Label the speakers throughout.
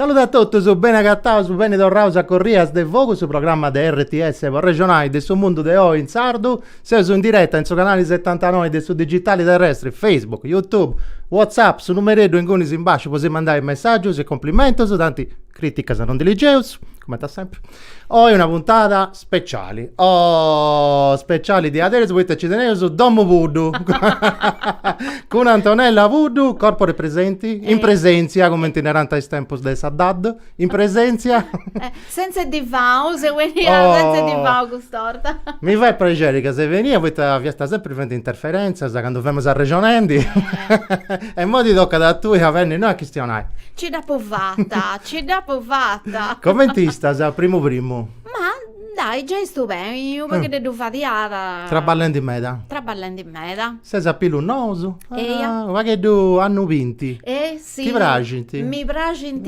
Speaker 1: Saludu a totus, beni agataus, beni torraus a Corrias de Fogu, su programma de RTS po arrexonai de su mundu de oi in sardu. Seus in direta in su canali setantanoi de su digitali terrestri, Facebook, Youtube, Whatsapp, su numereddu ingunis in basciu po si mandai messaggius e complimentus, tanti. Criticas non ndi ligeus, comente a sempre. Oi una puntada speciali. Oh, speciali diaderus poita ci teneus domu puddu. Cun Antonella Puddu, corpore presente, in presentzia, comente narant is tempus de sa Dad, in presentzia.
Speaker 2: Sentza divanu, seu 'enida sentza divanu cust'orta. Mi fait
Speaker 1: prexeri ca ses benida poita fiasta sempri fendi interferentzas candu femus arrexonendi. E imoi ti tocat a tui a benni innoi a chistionai. Ci
Speaker 2: dd'apo fata, ci dd'apo
Speaker 1: fata. Comente istas, primu primu?
Speaker 2: Ma, dai, giai istu beni, unu pagheddeddu fadiada. Traballendi meda.
Speaker 1: Traballendi meda.
Speaker 2: Ses a pilus nous?
Speaker 1: Eia. Ah, u' pagheddu annus binti. E si. Ti
Speaker 2: praxint?
Speaker 1: Mi
Speaker 2: praxint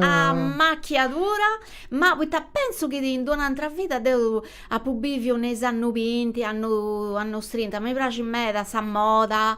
Speaker 2: a machiadura, ma poita pentzu chi in d'una antra vida deu apu biviu in is annus binti, annu annus trinta, mi praxit meda sa moda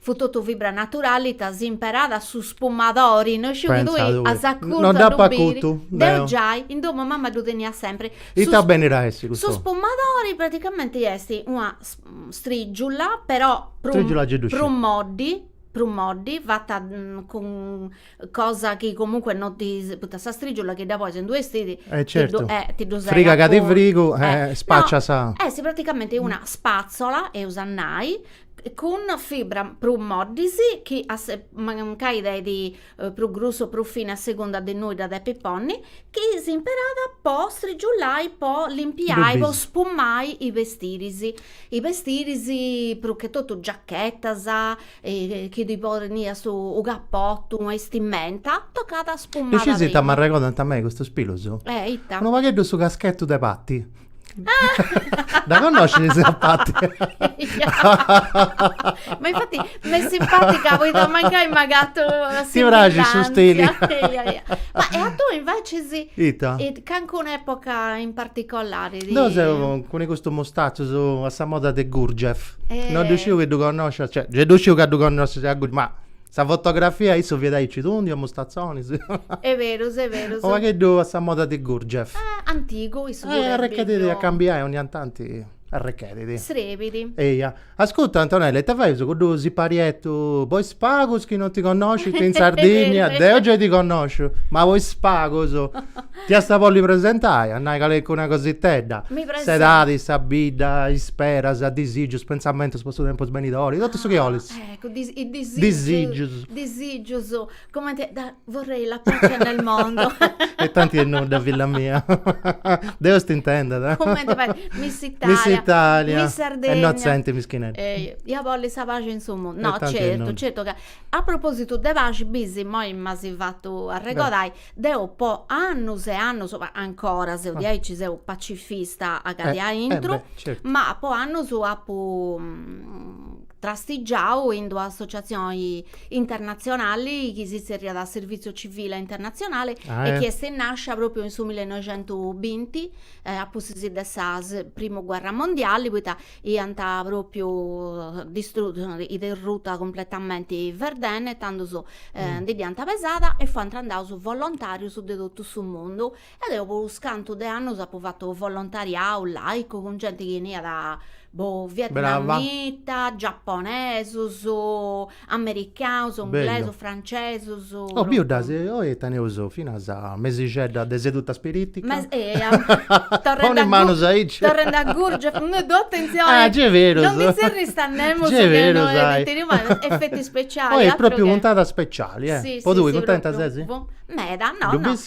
Speaker 2: Fut totu fibra naturali ita s'imperat su spumadori, no isciu chi tui as acutu
Speaker 1: a ddu biri, deu giai in
Speaker 2: domu mama ddu teniat sempri. E ita benit a
Speaker 1: essi custu? Su
Speaker 2: spumadori praticamenti est una strijula però prus moddi prus moddi fata cun cosa chi comunque non ti poita sa striggiula chi dda pois in d'unu bestidi eh certo
Speaker 1: ti ddu segat friga
Speaker 2: chi ti
Speaker 1: frigu eh spaccias no, est praticamenti una
Speaker 2: spazzola eus a nai cun fibras prus moddis chi mancai teidi prus grussu o prus fini a segunda de innui dda depis ponni chi s'imperat po striggiulai po limpiai po spumai is bestidis is bestidis prus che totu giachetas e chi ddi poniat su cappotu, bistimenta, tocat a spumada prima. E scesi ita
Speaker 1: m'arregodant a mei custus pilus? Eh, ita? Unu pagheddu
Speaker 2: su caschetu
Speaker 1: de Patti. Dda connoscis a Patti?
Speaker 2: Ma infati m'est simpatica poita mancai m'agatu s'assimbillantzia.
Speaker 1: Ti praxit su stili.
Speaker 2: Ma e a tui invecis? Ita? Calincuna
Speaker 1: epoca
Speaker 2: in particolari? Deu
Speaker 1: seu cun custus mustazzus a sa moda de Gurdjieff. Non ddu sciu chi ddu connoscis, cioè ddu sciu ca ddu connoscis a Gurdjieff, ma sa fotografia issu fiat aici tundiu a mustazzoni. E'
Speaker 2: berus, e' berus. U
Speaker 1: pagheddu a sa moda de Gurdjieff. Antigu issu
Speaker 2: puru. Arrechedidi
Speaker 1: a cambiai ogni a tanti arrechedidi. Srebidi. Eia. Ascuta Antonella, ita faius cuddu sipariettu, po is pagus chi non ti connoscint in Sardigna, deu giai ti connosciu, ma po is pagus ti ast a bolli presentai, a nai calincuna cositedda, s'edadi, sa bidda, is speras, disigius, pentzamentus po su tempus benidori, totu su chi 'olis. Eccu, disigius.
Speaker 2: Disigius. Come te, da, vorrei la pace nel mondo. e tanti e non
Speaker 1: da villa mia. Deus ti intenda, da. Come te fai?
Speaker 2: Miss Italia. Miss Italia. Miss Sardegna. E non senti
Speaker 1: mischinetta. Eh, io voglio sa
Speaker 2: pace in su mondo. No, certo, non... certo che... A proposito de pace, bisi, moi m'asi fatto arregodai, deu po annus e annus, ma ancora seu diaici, ah. seu pacifista a gadi eh, aintru, eh beh, certo. ma po
Speaker 1: annus
Speaker 2: apu... Mm, trastigiadu in d'una associatzioni internatzionali chi si tzerriat Servizio Civile Internazionale e chi est nàscia pròpriu in su millenoixentubinti, a pustis de sa primu guerra mondiali, poita iant pròpriu derruta cumpletamenti Verdun e tandus ndi dd'iant pesada e fuant andaus volontàrius de totu su mundu E deu po unus cantu de annus apu fatu volontariau laicu cun genti chi 'eniat boh vietnamita, giaponesus, americanus, inglesus, francesus. Oh biu dd'asi,
Speaker 1: oi teneus finas mesixedda de seduta
Speaker 2: spiritica. Poni is manus
Speaker 1: aici. Torrendi a
Speaker 2: Gurdjieff, mi ddu atenzionau. Ah gei est berus. Non ndi zerrius a nemus chi noi tenius mai
Speaker 1: effetti
Speaker 2: speciali. Oi propriu puntata
Speaker 1: speciali eh. Po tui cuntenta
Speaker 2: ses?
Speaker 1: Meda,
Speaker 2: no
Speaker 1: no.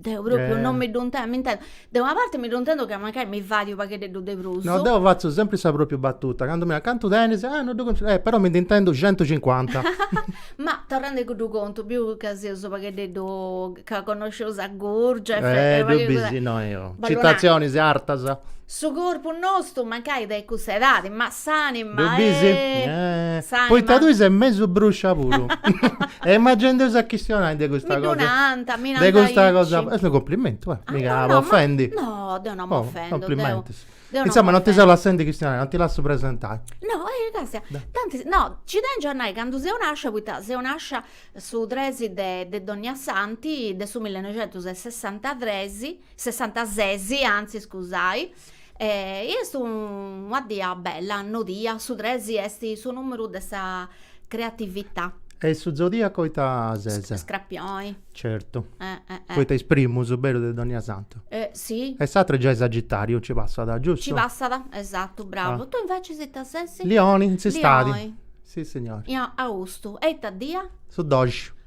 Speaker 2: Deu propriu non mi ddu intendu, mi intendu, de una parte mi ddu intendu ca mancai mi faidi u' pagheddeddu de prus. No, deu fatzu sempri sa
Speaker 1: propriu battuta, candu mi narant, cantu tenis? Ah, no ddu contu, eh, però mi ndi intendu centucincuanta.
Speaker 2: Ma torrendi a cuddu contu, biu ca seus u' pagheddeddu, ca connosceus a Gurdjieff e pagu e cosas. Eh, ddu bisi no, io.
Speaker 1: Ballonaio. Citatzionis artas. Su
Speaker 2: corpu nostu mancai de cussa edadi, ma s'anima,
Speaker 1: eh! Poita tui ses mesu bruscia puru. E ma gei nd'eus a chistionai de custa cosa. Mi ddu nant, mi nant aici. De custa cosa, est unu complimentu, eh! Miga a ofendi. No, deu non
Speaker 2: m'ofendu.
Speaker 1: Complimentus. Insoma, non ti seu lassendi chistionai, non ti lassu presentai. No, eh,
Speaker 2: càstia. Tantis, no, nci tengiu a nai candu seu nascia, poita seu nascia su tres de Dognassanti de su millenoixentus e sessantatres. Sessantases, antzis scusai, e est una dia bella, nodia, su tres est su numeru de sa creatività. E su
Speaker 1: zodiaco ita ses? Scrapioni.
Speaker 2: Certu.
Speaker 1: Poita is primus, bellu, de dònnia santu. Si. E
Speaker 2: s'atru
Speaker 1: giai Sagitariu nci passat, giustu? Nci passat,
Speaker 2: esatu, bravu. Tui invecis ita ses? Lioni, in s'istadi.
Speaker 1: Lioni. Sissignori. Austu,
Speaker 2: e ita dia? Su doxi.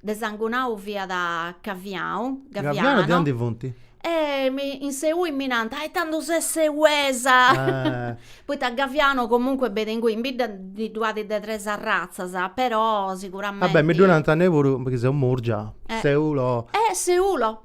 Speaker 2: de sangunau fiat Gaviau, Gavianu. Gavianu de
Speaker 1: aundi funt? E mi in
Speaker 2: Seui mi nant, e tandus ses seuesa, poita Gavianu comunque benit ingui, in bidda ndi ddu at de tres arratzas, però siguramenti. Ah beh, mi ddu nant a mei
Speaker 1: puru, chi seu Murgia, Seulo. Eh Seulo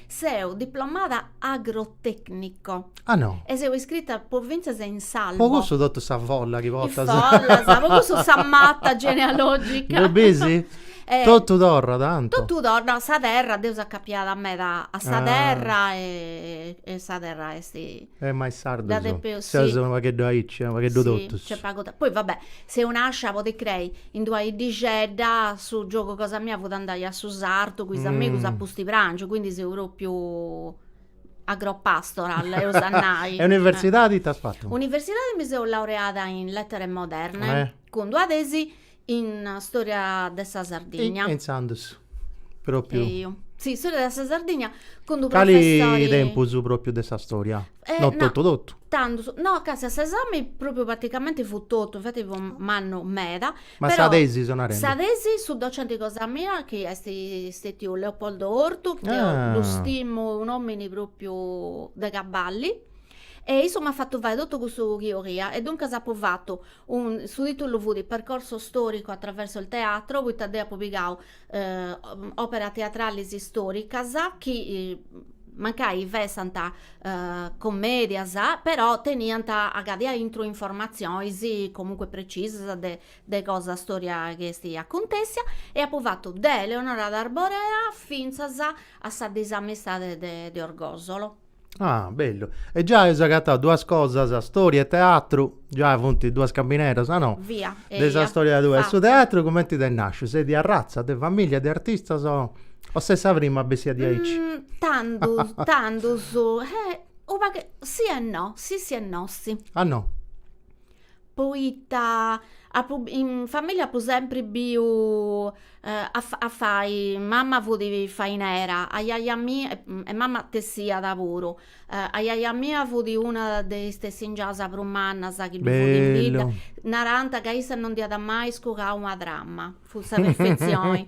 Speaker 2: Seu diplomada agrotecnico. Ah no.
Speaker 1: E seu iscrita
Speaker 2: pofintzas in s'albo. Po cussu totu sa
Speaker 1: folla chi portas. Is follas, po cussu
Speaker 2: sa mata genealogica. Ddu
Speaker 1: bisi? Totu torrat tantu. Totu torrat, no, sa
Speaker 2: terra, deu seu acapiada meda a sa terra e sa terra est Eh ma is
Speaker 1: sardus seus unu
Speaker 2: pagheddu
Speaker 1: aici e unu pagheddu totus. Nc'est pagu de, poi va
Speaker 2: bè, seu nascia, podit crei, in d'una 'iddixedda, su giogu cosa mia fut andai a su sartu cun is amigus a pusti prangiu, quindi seu propriu agropastoral eus a nai. E universidadi ita as
Speaker 1: fatu? Universidadi mi seu
Speaker 2: laureada in lettere moderne cun d'una tesi In storia de sa
Speaker 1: Sardigna.
Speaker 2: E
Speaker 1: intzandus
Speaker 2: propriu. Eju. Si, storia de sa Sardigna cun d'u professori. Cali tempus propriu de
Speaker 1: sa storia? No totu totu.
Speaker 2: Tantu,
Speaker 1: no casi
Speaker 2: a s'esami propriu praticamenti fut totu, infati fut mannu meda. Ma sa tesi
Speaker 1: seu narendi.
Speaker 2: Sa
Speaker 1: tesi su
Speaker 2: docenti cosa mia chi est stetiu Leopoldo Ortu, chi deu ddu stimu, un'omini propriu de cabali. E issu m'at fatu fai totu custu chi 'oria e duncas apu fatu un, su titulu fut Percorso storico attraverso il teatro poita deu apu pigau operas teatralis storicas chi mancai fessant commedias però teniant agadia intru informatzionis comunque precisas de de cosa storia chi est acontessia e apu fatu de Eleonora d'Arborea finzas a sa disamistade de de Orgosolo Ah,
Speaker 1: bellu. E già eus agatau duas cosas, storia e teatru, già funt duas cambineras, a no? Via, eia. De sa storia
Speaker 2: tua. E
Speaker 1: su teatru cumenti t'est
Speaker 2: nasciu?
Speaker 1: Ses de arratza de familia de artistas o o ses sa prima a bessiri diaici?
Speaker 2: Tandus, tandus, eh, unu pagu, si e no, si si e no si. A no. poita apu in familia apu sempri biu a fai, mama fut fainera, ajaja mia, e mama tessiat puru, ajaja mia fut una de is tessingias prus mannas chi ddu funt in bidda, narant
Speaker 1: ca issa
Speaker 2: non dd'iat mai scugau una trama. Fut sa perfetzioni.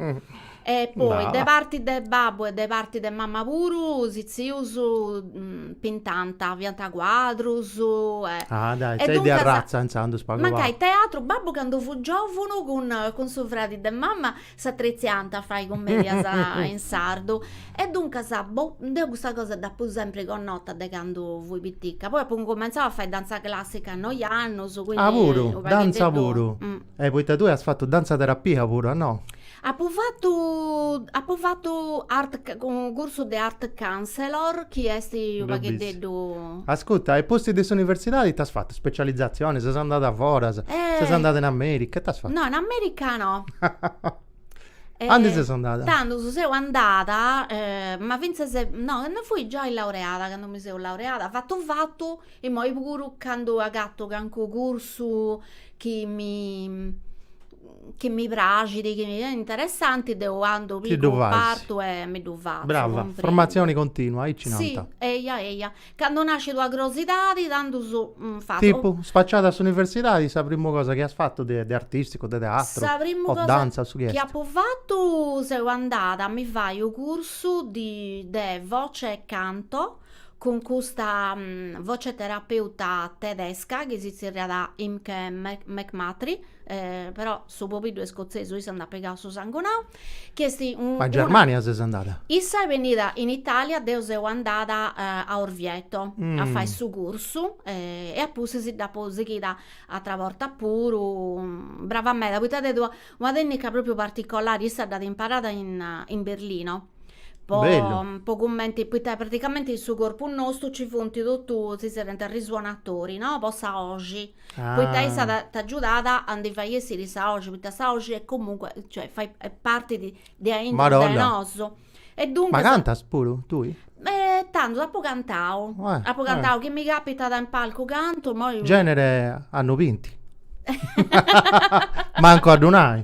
Speaker 2: E poi de parti
Speaker 1: de
Speaker 2: babbu e de parti de mama puru is tzius pintànt, fiant cuadrus e. Ah dai,
Speaker 1: ses de arratza intzandus
Speaker 2: pagu pagu.
Speaker 1: Mancai teatru,
Speaker 2: babbu
Speaker 1: candu
Speaker 2: fut giòvunu cun cun su fradi de mama s'atretziant a fai cummedias in sardu. E duncas, boh, deu custa cosa dd'apu sempri connota de candu fui pitica. Poi apu cumentzau a fai dantza classica a noi annus, quindi. Ah puru, dantza
Speaker 1: puru?
Speaker 2: Eh,
Speaker 1: poita
Speaker 2: tue as
Speaker 1: fatu dantzaterapia puru, a no?
Speaker 2: Apu fatu, apu fatu unu cursu de art counselor chi est unu pagheddeddu. Ascurta, e pustis de
Speaker 1: s'universidadi ita as fatu? Specializzazione, ses andada a foras, ses andada in America, ita as fatu? No, in America no. Aundi ses andada? Tandus si seu andada,
Speaker 2: ma fintzas, no, candu fui giai laureada, candu mi seu laureada, fatu fatu Immoi puru candu agatto cancu cursu chi mi chi mi praxit, chi est interessanti, deu andu, pigu partu
Speaker 1: e
Speaker 2: mi ddu
Speaker 1: fatzu.
Speaker 2: Brava, formatzioni continua,
Speaker 1: aici nant. Si, eia eia.
Speaker 2: Candu nascit una crosidadi, tandus fatzu. Tipu, spaciada
Speaker 1: a s'universidadi, sa primu cosa chi as fatu de de artisticu, de teatru, o dantza,
Speaker 2: su chi est? Sa
Speaker 1: primu
Speaker 2: cosa
Speaker 1: chi apu fatu,
Speaker 2: seu andada a mi fai u' cursu di de voce e canto cun custa voce terapeuta tedesca chi si tzerriat Imke McMurtrie, però su pobiddu est scotzesu issa nd'at pigau su sangunau, chi est una. Ma a Germania ses
Speaker 1: andada? Issa est bennida
Speaker 2: in Italia, deu seu andada a Orvieto a fai su cursu e a pustis dd'apu sighida atra borta puru, brava meda, poita at tentu una tecnica propriu particolari, issa dd'at imparada in Berlino
Speaker 1: po, po
Speaker 2: cumenti, poita praticamenti in su corpu nostu nci funt totu, si tzerriant risuonatori no, po sa 'oxi, poita issa t'at t'agiudat a ndi fai essiri sa 'oxi, poita sa 'oxi est comunque, cioè fait est parti di de aintru de nosu e duncas. Ma cantas
Speaker 1: puru tui? E tandus
Speaker 2: apu cantau, apu cantau chi mi
Speaker 1: capitat in
Speaker 2: palcu cantu, moi. Genere
Speaker 1: annus binti. Mancu a ddu nai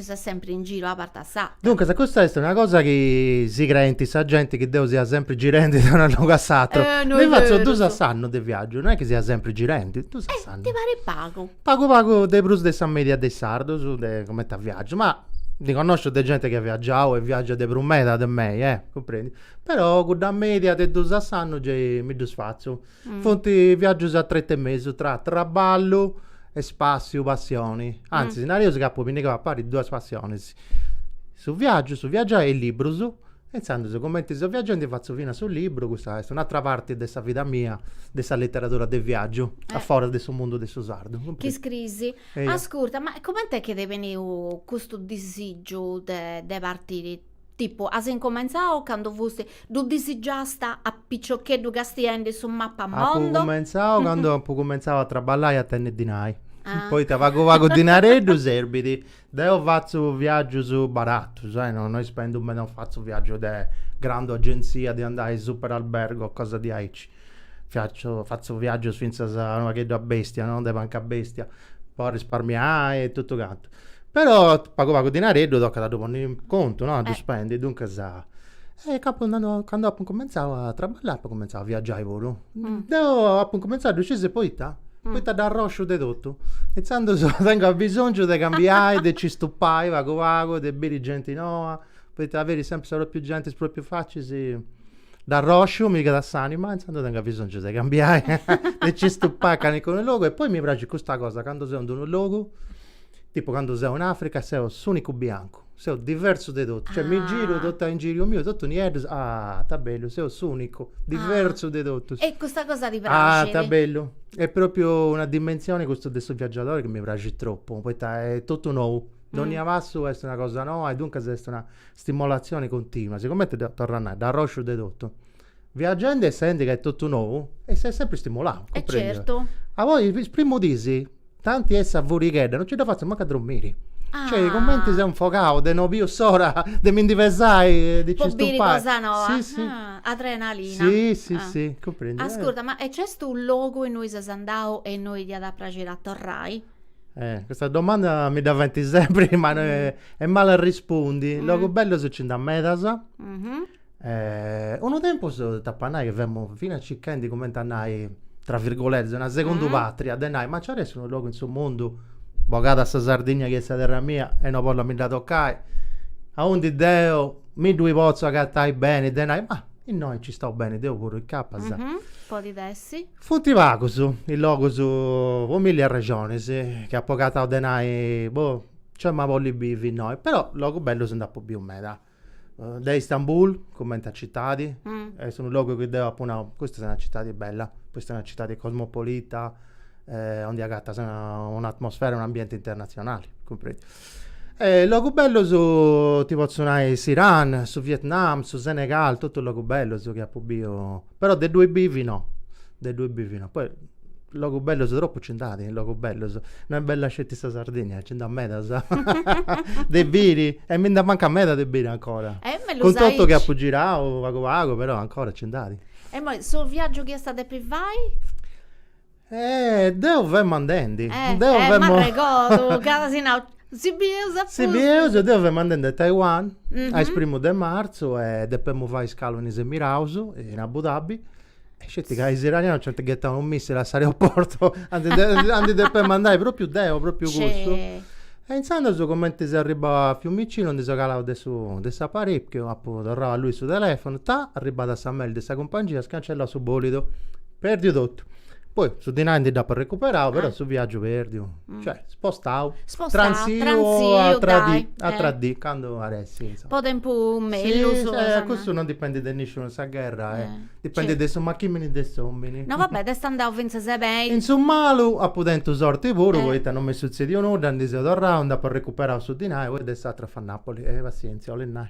Speaker 2: Ses sempri in giru a parti sa. Duncas custa est
Speaker 1: una cosa chi si creent sa genti chi deu sia sempri girendi de unu logu a s'atru. Mi fatzu dus a
Speaker 2: s'annu de
Speaker 1: viaggiu,
Speaker 2: no est chi
Speaker 1: sia sempri girendi, dus a s'annu. Ti parit
Speaker 2: pagu? Pagu pagu de
Speaker 1: prus de sa media de is sardus de cumenti a viaggiu, ma ndi connosciu de genti chi at viaggiau e viaggiat de prus meda de mei, eh! Cumprendi? Però cudda media de dus a s'annu gei mi ddus fatzu. Funt viàgius a tretu 'e mesu tra traballu e spassiu, passioni. Antzis, nareus ca apu pinnigau a pari duas passionis, su viàgiu, su viagiai e librus. E intzandus, cumenti seu viagendi, fatzu fina su libru, custa est un'atra parti de sa vida mia, de sa literadura de viàgiu, a foras de su mundu de su sardu. Chi scris?
Speaker 2: Ascurta, ma cumenti est chi t'est benniu custu
Speaker 1: disìgiu
Speaker 2: de partiri? Tipu, as incumentzau candu fusti. Ddu disigiasta a piciocheddu castiendi su mapamondo? Apu cumentzau candu apu
Speaker 1: cumentzau a traballai a tenni dinai. Poita
Speaker 2: pagu
Speaker 1: pagu dinareddu serbit. Deu fatzu viaggius baratus, no ispendu meda, non fatzu viaggius de grandu agentzia de andai superalbergo o cosa diaici. Fatzu, fatzu viaggius finzas unu pagheddu a bestia, no, de punkabbestia, po arrisparmiai e totu cantu. Però pagu pagu dinareddu tocat a ddu ponni in contu, no, a ddu spendi, duncas, e apu nau, candu apu incumentzau a traballai apu cumentzau a viaggiai puru. Deu apu incumentzau a, ddu scis poita? Poita arrosciu de totu. Intzandus tengu abisongiu de cambiai, de nci stupai pagu pagu, de biri genti noba, poita biri sempri sa propriu genti, is propriu facis Dd'arrosciu, mi pigat s'anima, e intzandus tengu bisongiu de cambiai, de ci stupai a calincunu logu, e poi mi praxit custa cosa, candu seu in d'unu logu, tipu candu seu in Africa, seu s'unicu biancu, seu diversu de totu, cioè mi giru totu a ingiriu miu, totu nieddus, ah ta bellu, seu s'unicu, diversu de totus. E custa cosa ti
Speaker 2: praxit? Ah ta bellu,
Speaker 1: est propriu una dimensioni custu de su viaggiadori chi mi praxit tropu, poita est totu nou, dònnia passu est una cosa noa e duncas est una stimolazioni continua, sigomente deu torru a nai, dd'arrosciu de totu, viaggendi e essendi ca est totu nou, e ses sempri stimulau, cumprendiu? E certu. Poi
Speaker 2: is
Speaker 1: primus dis, tanti est sa furighedda, no nci dda fatzu mancu a drommiri. Ah. Cioè, cumenti seu infogau de no biu s'ora de mi ndi pesai e de nci stupai. Po biri cosa noba. Si,
Speaker 2: si.
Speaker 1: Ah, adrenalina. Si,
Speaker 2: si, Ah. si,
Speaker 1: cumprendiu? Ascurda, ma e nc'est
Speaker 2: unu logu innui ses andau e innui ti iat a praxiri a torrai? Eh,
Speaker 1: custa domanda mi dda faint sempri, ma est male a arrespundi. Logus bellus nci nd'at medas. Unu tempus t'apu a nai chi femu finas circhendi cumenti a nai, tra virgolette, una segundu patria, de nai, ma nci ar'essi unu logu in su mundu, bogada sa Sardigna chi est sa terra mia e no bollu a mi dda tocai, aundi deu mi ddui potzu agatai beni de nai, ma innoi nci istau beni deu puru, incapas. Podit
Speaker 2: essi Funt
Speaker 1: pagus is logus po milli arrexonis chi apu agatau de nai, boh, nci emu a bolli bivi innoi, però logus bellus nd'apu biu meda. De Istanbul, cumenti a citadi, est unu logu chi deu apu nau, custa est una citadi bella, custa est una citadi cosmopolita, aundi agatas un'atmosfera, un'ambienti internatzionali, cumprendi. Logus bellus ti potzu nai s'Iran, su Vietnam, su Senegal, totus logus bellus chi apu biu Però de ddoi bivi no, de ddoi bivi no, poi logus bellus tropu nci nd'at, logus bellus, no est bella sceti sa Sardigna, nci nd'at medas de biri e mi nd'amancat meda de biri ancora, cun totu chi apu girau pagu pagu però ancora nci nd'at. E imoi su
Speaker 2: viaggiu chi iast a depi fai?
Speaker 1: Eh, deu femu andendi. Eh,
Speaker 2: eh, m'arregodu, ca as nau, si bieus a pustis.
Speaker 1: Si bieus, deu fema andendi a Taiwan, a is primus de martzu e depemu fai iscalu in is Emiraus, in Abu Dhabi, e sceti ca is iranianus nci ant ghetau unu missili a s'aeroportu, aundi depemu andai propriu deu, propriu cussu. E intzandus cumenti seu arribau a Fiumicinu, ndi seu calau de su, de s'aparichiu, apu torrau a allui su telefonu, ta, arribada sa mail de sa cumpangia, scancellau su bolidu. Perdiu totu. Poi su dinai ndi dd'apu recuperau, però su viaggiu perdiu. Cioè, spostau. Spostau, transiu. Transiu, dai. Atra dì, atra dì, candu at essi, insoma. Po tempus
Speaker 2: mellus. Si, si, cussu non
Speaker 1: dipendit de nisciunu, sa gherra, dipendit de su machimini de s'omini. No va bè, t'est
Speaker 2: andau finzas beni. In su malu
Speaker 1: apu tentu sorti puru, poita non m'est sutzediu nudda, ndi seu torrau, nd'apu recuperau su dinai, poi de s'atru a fa' Napoli. E passienzia, 'olit nai.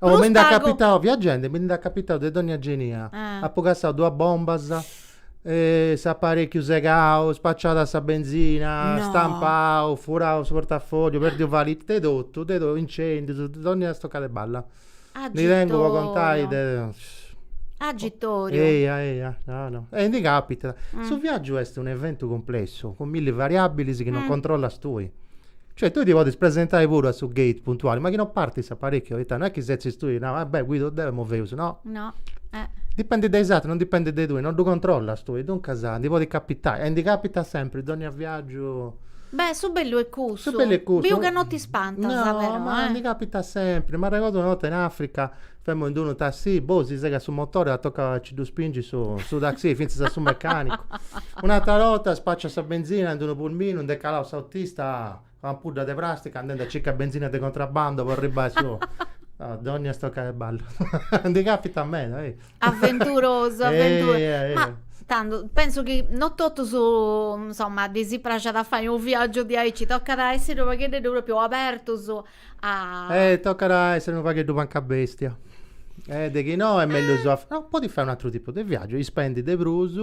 Speaker 2: Oh, mi nd'at
Speaker 1: capitau, viagendi, mi nd'at capitau de dònnia genia. Apu cassau duas bombas, s'aparèchiu segau, spaciada sa benzina, stampau, furau su portafòlliu, pèrdiu valìt, de totu, de totu, incèndius, dònnia stocada de balla. Ndi tengu po contai de. Agitoriu.
Speaker 2: Eia, eia, no, no. E ndi
Speaker 1: capitat. Su viaggiu est un'eventu cumplessu, cun milli variàbbilis chi non controllas tui. Cioè tui ti podis presentai puru a su gate puntuali, ma chi no partit s'aparécchiu, poita no est chi ti setzis tui e naras, beh, guidu deu imoi feus, no. No,
Speaker 2: eh. Dipendit de
Speaker 1: is atrus, non dipendit de tui, non ddu controllas tui, duncas ndi podit capitai, e ndi capitat sempri, dònnia viàgiu.
Speaker 2: Beh, su bellu est cussu. Su bellu est cussu. Biu ca no
Speaker 1: t'ispantas,
Speaker 2: però, eh. No, ma ndi
Speaker 1: capitat sempri. M'arregodu una 'orta in Africa Femo in d'unu tassì, boh, si segat su motore e tocat a ci ddu spingi su, su taxì, fintzas a su mecànicu. Un'atra 'orta spaciat sa benzina in d'unu pulminu, nd'est calau s'autista cun una ampudda de pràstica andende a circai benzina de contrabbando po arribbai su. Dònnia stocada 'e balla. Ndi càpitat meda, ehi. Aventurosu,
Speaker 2: aventurosu. Ehi, ehi.
Speaker 1: Ma
Speaker 2: tantu, pensu chi no totus, insomma, ddi si praxat a fai unu viàgiu diaici, tocat a essi unu paghededdu pròpriu abertus Eh, tocat a èssere
Speaker 1: unu pagheddu pancabèstia. Eh, de chi no est mellus a. No, podis fai un'atru tipu de viàgiu, ispendis de prus.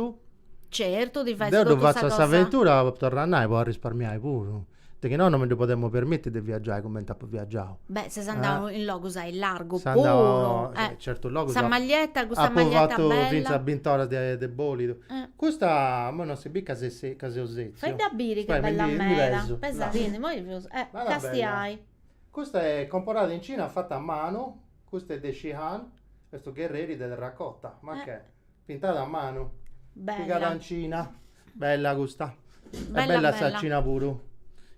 Speaker 1: Certu, ti faint
Speaker 2: totu sa cosa. Deu ddu fatzu a s'aventura, torru
Speaker 1: a
Speaker 2: nai, po
Speaker 1: arrisparmiai puru. De chi no, no mi ddu podemu permiti de viaggiai cumenti apu viaggiau. Beh, ses
Speaker 2: andau in logus aillargu puru. Seu andau,
Speaker 1: certu, logus. Sa
Speaker 2: maglietta,
Speaker 1: custa maglietta
Speaker 2: bella. Apu fatu fintzas
Speaker 1: bint'oras de bolidu.
Speaker 2: Custa imoi non
Speaker 1: si bit ca seu setziu. Faidda biri
Speaker 2: che bella meda.
Speaker 1: Pesa·ti·ndi imoi prus. Càstia. Custa
Speaker 2: est
Speaker 1: comporada in Cina fata a manu, custa est de Xi'an, est unu gherreri de terracota, ma che, pintada a manu, pigada in Cina, bella custa Bella bella sa
Speaker 2: Cina
Speaker 1: puru.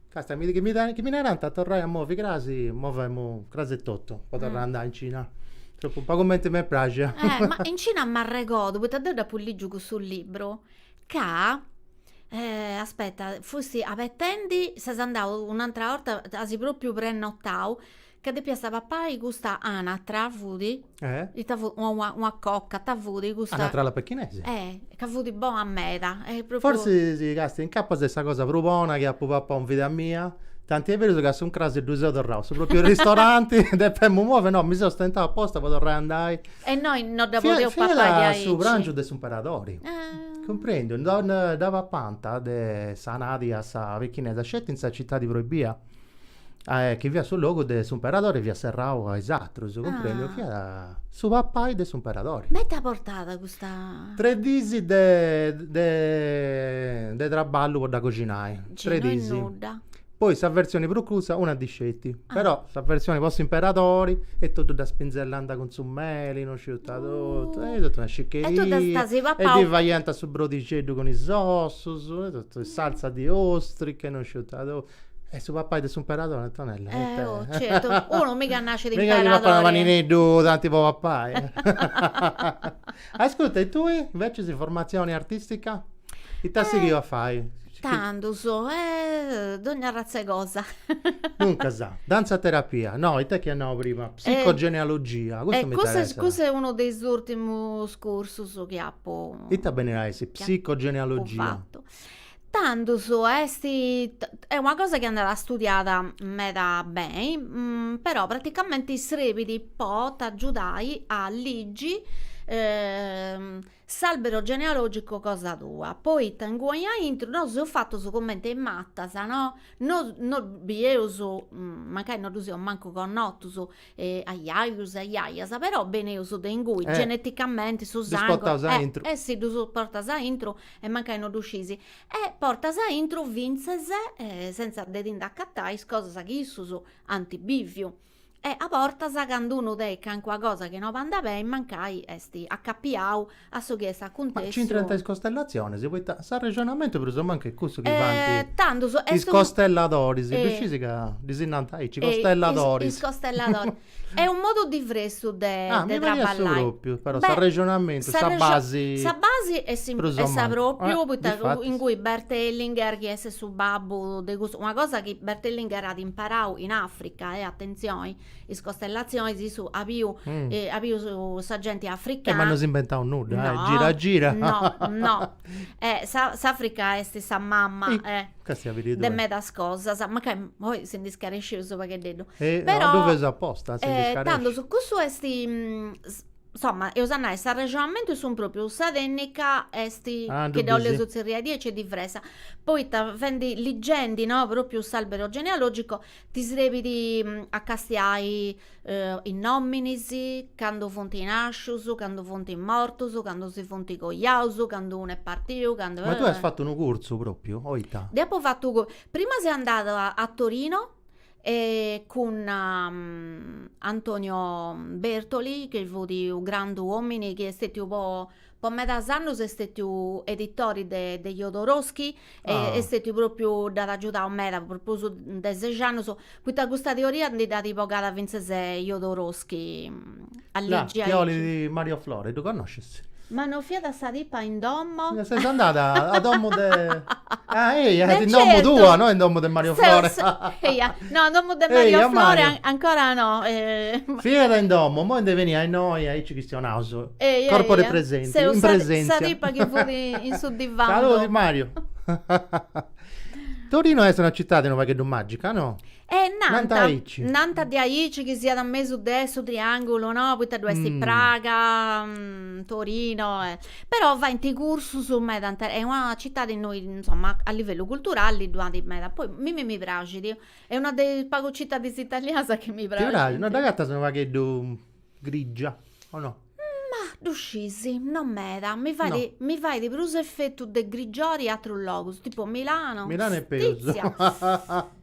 Speaker 1: Càstia chi mi narant a torrai a movi crasi, movemu crasi e totu po torrai a andai in Cina. Tropu po cumenti m'est praxia. Eh ma in Cina
Speaker 2: m'arregodu, poita deu dd'apu ligiu cussu libru, ca aspetta, fusti abetendi, ses andau un'atera 'orta, as propriu prenotau Ca depias a papai custa anatra fut, ita fut, una coca, ita fut custa. Anatra a la
Speaker 1: pechinese. Eh, ca fut
Speaker 2: bona meda. Forsis càstia
Speaker 1: incapas est sa cosa prus bona chi apu papau in vida mia, tanti est berus ca a s'incràs ddu seu torrau, su propriu ristoranti, depemu movi, no, mi seu stentau aposta po torrai a andai. E innoi no
Speaker 2: dda podeus papai diaici. Fiat
Speaker 1: su
Speaker 2: prangiu
Speaker 1: de s'imperadori, cumprendiu, dda papànta s'anadi a sa pechinesa sceti in sa citadi proibia. chi fiat su logu de s'imperadori fiat serrau a is atrus, cumprendi, fiat su papai de s'imperadori. Ma t'at
Speaker 2: portat custa. Tres dis de
Speaker 1: de de traballu po dda coxinai, tres dis. No est nudda. Poi sa versioni prus cussa una ddi sceti, però sa versioni po s'imperadori e totu dda spinnellant cun su meli, no sciu ita totu, e totu una sciccheria.
Speaker 2: E ddi faiant su
Speaker 1: brodixeddu cun is ossus, e totu, is salsas di ostriche e no sciu ita totu E su papai de s'imperadori Antonella. Eh oh
Speaker 2: certu, unu miga nascit imperadori. Miga chi papat unu panineddu tanti
Speaker 1: po papai. Ascurta e tui invecias formatzioni artistica? Ita as sighiu a fai? Tandus,
Speaker 2: eh dogna arratz'e cosa.
Speaker 1: Duncas, dantza terapia, no, ita est chi as nau prima, psicogenealogia, custu m'interessat. Custu est unu de is
Speaker 2: urtimus cursus chi apu. Ita benit a essi
Speaker 1: psicogenealogia?
Speaker 2: Tandus est est una cosa chi andat a studiada meda beni, però praticamenti srebit po t'agiudai a ligi s'albero genealogico cosa tua, poita ingui aintru nosu seus fatus cumenti is matas no no bieus mancai no ddus eus mancu connotus a jajus e a jajas però benneus de ingui geneticamenti su sangu si ddus portas aintru e mancai no ddu scisi e portas aintru fintzes sentza de ti nd'acatai is cosas chi issus ant biviu e a bortas candu unu tenit calincuna cosa chi no bandat beni mancai est acapiau a su chi est acuntessiu. Ma c'intrant is
Speaker 1: costellatzionis, poita s'arrexonamentu prus o mancu est cussu chi faint. E tandus est.
Speaker 2: Is
Speaker 1: costelladoris, ddu sciis ca ddis nant aici, costelladoris. Is costelladoris.
Speaker 2: Est u' modu diversu de traballai. Ah, mi pariat su
Speaker 1: propriu, però s'arrexonamentu, sa basi. Sa basi
Speaker 2: est sa propriu. Poita ingui Bert Hellinger chi est su babbu de custu, una cosa chi Bert Hellinger at imparau in Africa, e atentzioni. is costellazionis issu at biu at biu in sa genti africana. Ma no s'imbentat
Speaker 1: nudda, no, eh, gira gira. No,
Speaker 2: no. Eh, sa s'Africa est sa mama, eh, de medas cosas, mancai oi si ndi scarescius u' paghededdu. Eh, no, ddu
Speaker 1: feus aposta, si ndi scaresci. Però, tandus,
Speaker 2: cussu est, insoma, eus a nai, s'arrexonamentu est su propriu, sa tennica eh chi dda 'olius tzerriai diaici est diversa. Poita, fendi, ligendi, no, propriu s'albero genealogico, Ti serbit a castiai is nominis, candu funt nascius, candu funt mortus, candu si funt coiaus, candu un'est partiu, candu. Ma tui as fatu unu cursu
Speaker 1: propriu o ita? Deu apu
Speaker 2: fatu, prima seu andada a Torino cun Antonio Bertoli chi fut u' grandu omini chi est stetiu po po medas annos est stetiu editori de de Jodorowsky e est stetiu propriu dd'at agiudau meda po prus de ses annos poita custa teoria ndi dd'at bogada fintzas Jodorowsky a ligi a ligi
Speaker 1: Mario Flore ddu connoscis? Ma no fiat a
Speaker 2: sa tipa in domo? Ses andada
Speaker 1: a domo de ah eia in domo tua no
Speaker 2: in domo
Speaker 1: de
Speaker 2: Mario
Speaker 1: Flore eia No,
Speaker 2: in domu de Mario Ehi, a Flore Mario. an-
Speaker 1: ancora
Speaker 2: no. eh, ma- Fiat
Speaker 1: in domu, moi nde benit a innoi, aici chistionaus. Ehi, Corpo ehi, de eh. presenti, Seu in presentzia. sa tipa chi fut
Speaker 2: in su divanu. Saluti Mario.
Speaker 1: Torino est una citadi unu pagheddu magica, no? Eh, Nant nant, aici. nant
Speaker 2: de aici chi siat a mesu de su triangulu, no? Poita ddu est Mm. Praga, mm, Torino e Però faint cursus meda tanti est una citadi innoi insomma a livellu culturali ddu at meda poi mimi mi praxit est una de is pagus citadis italianas chi mi praxint. Ti praxit, no dd'agatas
Speaker 1: unu
Speaker 2: pagheddu
Speaker 1: grigia o no? Ma ddu
Speaker 2: scis, no meda, mi fait mi fait prus efetu de grigiori aterus logus, tipo Milano, Milano est peus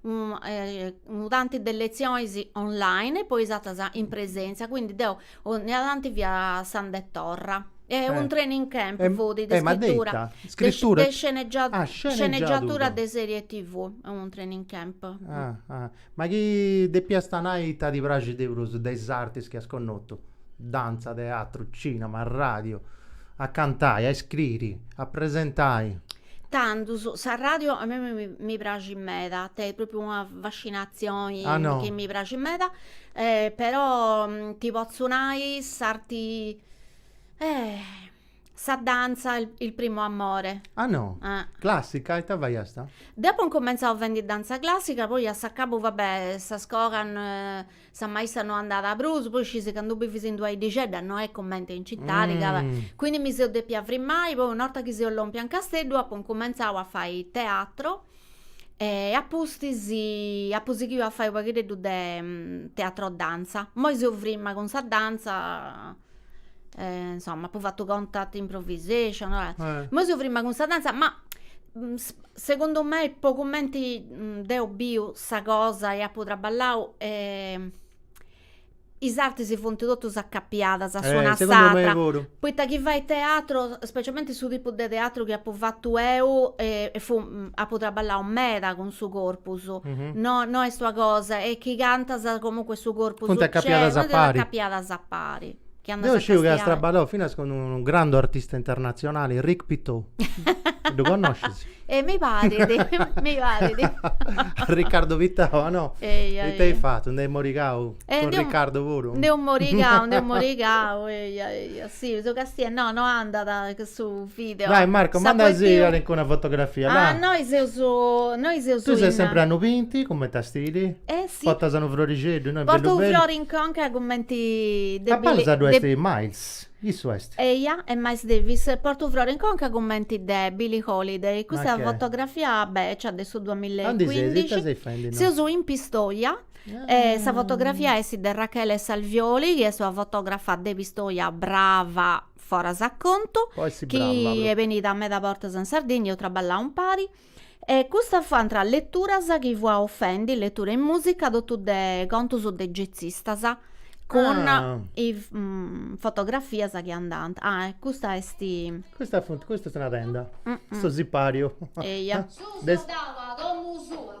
Speaker 2: unu tanti de letzionis online e poi is atras in presèntzia, quindi deu 'onnia tanti fia andendi e torra e unu training camp fut de iscritura de sceneggiatura de serie TV, unu training camp. Ma
Speaker 1: chi depiast nai ita ti praxit de prus de is artis chi as connotu? Dantza, teatru, cinema, radiu, a cantai, a iscriri, a presentai?
Speaker 2: Tandus, sa radio a mei mi mi praxit meda, est propriu una fascinatzioni Ah no chi mi praxit
Speaker 1: meda
Speaker 2: e però ti potzu nai s'arti sa danza il il primo amore Ah no,
Speaker 1: ah classica, ita faiasta? Deu apu incumentzau
Speaker 2: fendi danza classica, poi a s'acabu va bè sa scola Sa maista no andàt prus, poi scisi candu bivis in d'una iddixedda no est comente in citadi ca, quindi mi seu depia frimmai, poi un'orta chi seu lòmpia in Casteddu apu incumentzau a fai teatro e a pustis apu sighiu a fai u' paghideddu de teatro danza, moi seu frimma cun sa danza. eh, insomma, apu fatu contact improvisation, eh. Eh. Imoi seu firma cun sa danza, ma mm, s- segundu mei, po cumenti mm, deu biu sa cosa e apu traballau, eh, is artis funt totus acapiadas a Eh, s'una a segundu mei s'atra. puru. Poita chi fais teatru, specialmenti su tipu de teatru chi apu fatu eu, eh, fu apu traballau meda cun su corpus no no est una cosa e chi cantas comunque su corpus Funt acapiadas a pari
Speaker 1: acapiadas
Speaker 2: a pari Deu sciu chi
Speaker 1: as traballau finas cun unu grandu artista internatzionali Rick Pitò ddu connoscis? E mi
Speaker 2: parit mi
Speaker 1: parit Riccardo Pittau no? Eia eia It'hai fatto? Nd'hai morigau cun Riccardo puru? Nd'heu morigau nd'heu
Speaker 2: morigau eia eia Eh, su càstiu, no no andat su video. Dai Marco manda·sì
Speaker 1: calincuna fotografia la. Ah noi
Speaker 2: seus noi seus in. Tui ses sempri
Speaker 1: a unu pinti cumenti a stiri? Eh si. Portas unu
Speaker 2: frorixeddu
Speaker 1: innoi bellu bellu. Portu unu frori in conca
Speaker 2: cumenti de Billie. Apparsa ddu
Speaker 1: est Miles, issu est.
Speaker 2: Eia est Miles Davis, portu unu frori in conca cumenti de Billie Holiday, custa fotografia beccia de su duamilla e cuindixi. Aundi ses, ita ses faendi innoi? Seus in Pistoia. Eh, sa fotografia est de Rachele Salvioli, chi est una fotografa de Pistoia brava foras a contu, chi est benida meda bortas in Sardigna, eus traballau impari, e custas fuant leturas chi fuaus fendi, letura in musica, totu de contus de getzistas, cun is fotografias chi andant, ah e custa est, custa funt,
Speaker 1: custa est una tenda, su sipariu, eia, su
Speaker 3: soldau a domu sua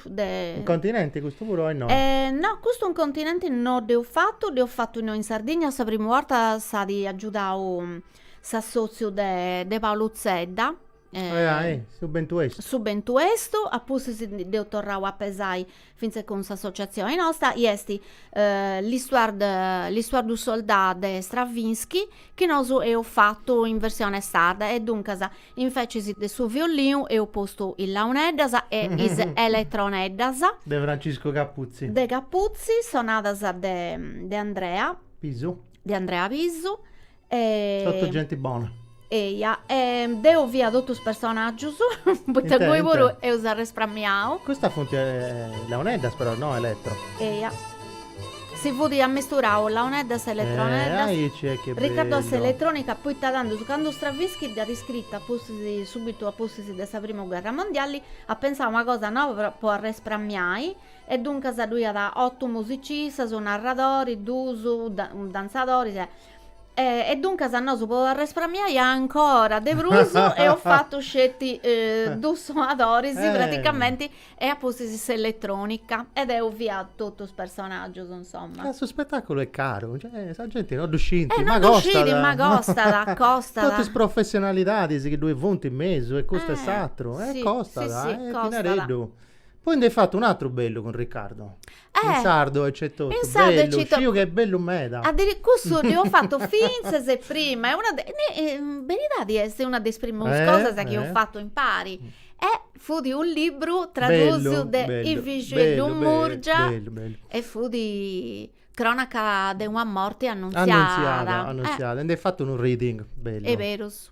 Speaker 2: de...
Speaker 1: In continenti custu puru o no? Eh, no, custu
Speaker 2: in continenti no dd'eus fatu, dd'eus fatu innoi in Sardigna, sa primu 'orta s'at agiudau s'assotziu de de Paolu Zedda, eh, su bentu 'estu. Su bentu 'estu, a pustis dd'eus torrau a pesai fintzas cun s'associatzioni nosta, i est l'Histoire de l'Histoire du soldat de Stravinsky Chi nosu eus fatu in versione sarda e duncas invecis de su violinu eus postu is launeddas e is eletroneddas. De Francisco
Speaker 1: Capuzzi. De Capuzzi,
Speaker 2: sonadas de de Andrea. Pisu. De Andrea Pisu.
Speaker 1: Totu genti bona. Eia, e
Speaker 2: deu fia totu is personaggius, poita ingui puru eus arresprammiau. Custas funt
Speaker 1: launeddas però, no eletro. Eia.
Speaker 2: Si fut ammisturau launeddas e eletroneddas,
Speaker 1: Riccardo a s'eletrònica poita
Speaker 2: tandus, candu Stravinsky dd'at iscrita subbitu a pustis de sa primu gherra mondiali, at pensau una cosa noba po arresprammiai, e duncas ddu iat otu musicistas, unu narradori, duus danzadoris, e duncas nosu po arresprammiai ancora de prus eus fatu sceti duus sonadoris, praticamenti e a pustis s'elletrònica e deo fia totu is personàgius insoma. Ca su spettaculu est
Speaker 1: caru, cioè sa genti no ddu scint, ma costat. E no ddu
Speaker 2: scit, ma costat, costat. Totu
Speaker 1: is professionalidadis chi ddoi funt in mesu e custu e s'atru, e
Speaker 2: costat, eh,
Speaker 1: dinareddu. Poi nd'eis fatu un'atru bellu cun Riccardo. Eh! In sardu etotu. In sardu etotu. Bellu, sciu
Speaker 2: chi est bellu
Speaker 1: meda. Addiri- cussu dd'eus
Speaker 2: fatu fintzas a prima, est una de beridadi est una de is primus Eh, cosas chi eus eh. fatu impari. E fut u' libru tradusiu Bellu, de bellu, Ivixeddu bellu, Murgia bellu, bellu. e fut cronaca de una morti annunziada. Annunziada, annunziada. E nd'eis fatu
Speaker 1: unu reading bellu. Eberus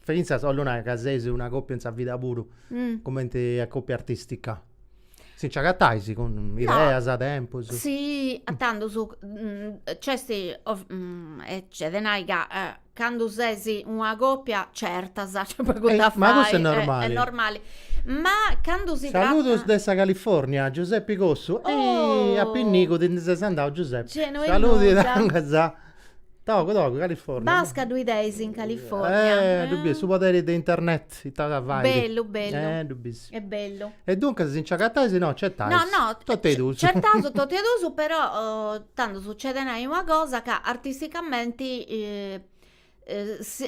Speaker 1: Fintzas 'ollu nai ca seis una coppia in sa vida puru, cumenti a coppia artistica. Si nci agatais cun ideas, tempus. Si, a
Speaker 2: tandus nc'esti e nc'est de nai ca candu ses una coppia certas nc'est pagu de fai. Ma
Speaker 1: cussu est
Speaker 2: normali. Ma candu si tratat. Saludos de sa
Speaker 1: California, Giuseppi Cossu. A pinnigu ti ndi ses andau Giuseppi. Saludos. Togu togu California. Basca ddu
Speaker 2: 'ideis in California. Eh, ddu bis, su poderi
Speaker 1: de internet, ita ca fait.
Speaker 2: Bellu, bellu. Eh, ddu bis.
Speaker 1: Est bellu. E
Speaker 2: duncas si nci
Speaker 1: agatais si no certais. No, no. Totu 'e duus.
Speaker 2: Certaus
Speaker 1: totu 'e duus, però
Speaker 2: tandus nc'est de nai una cosa ca artisticamenti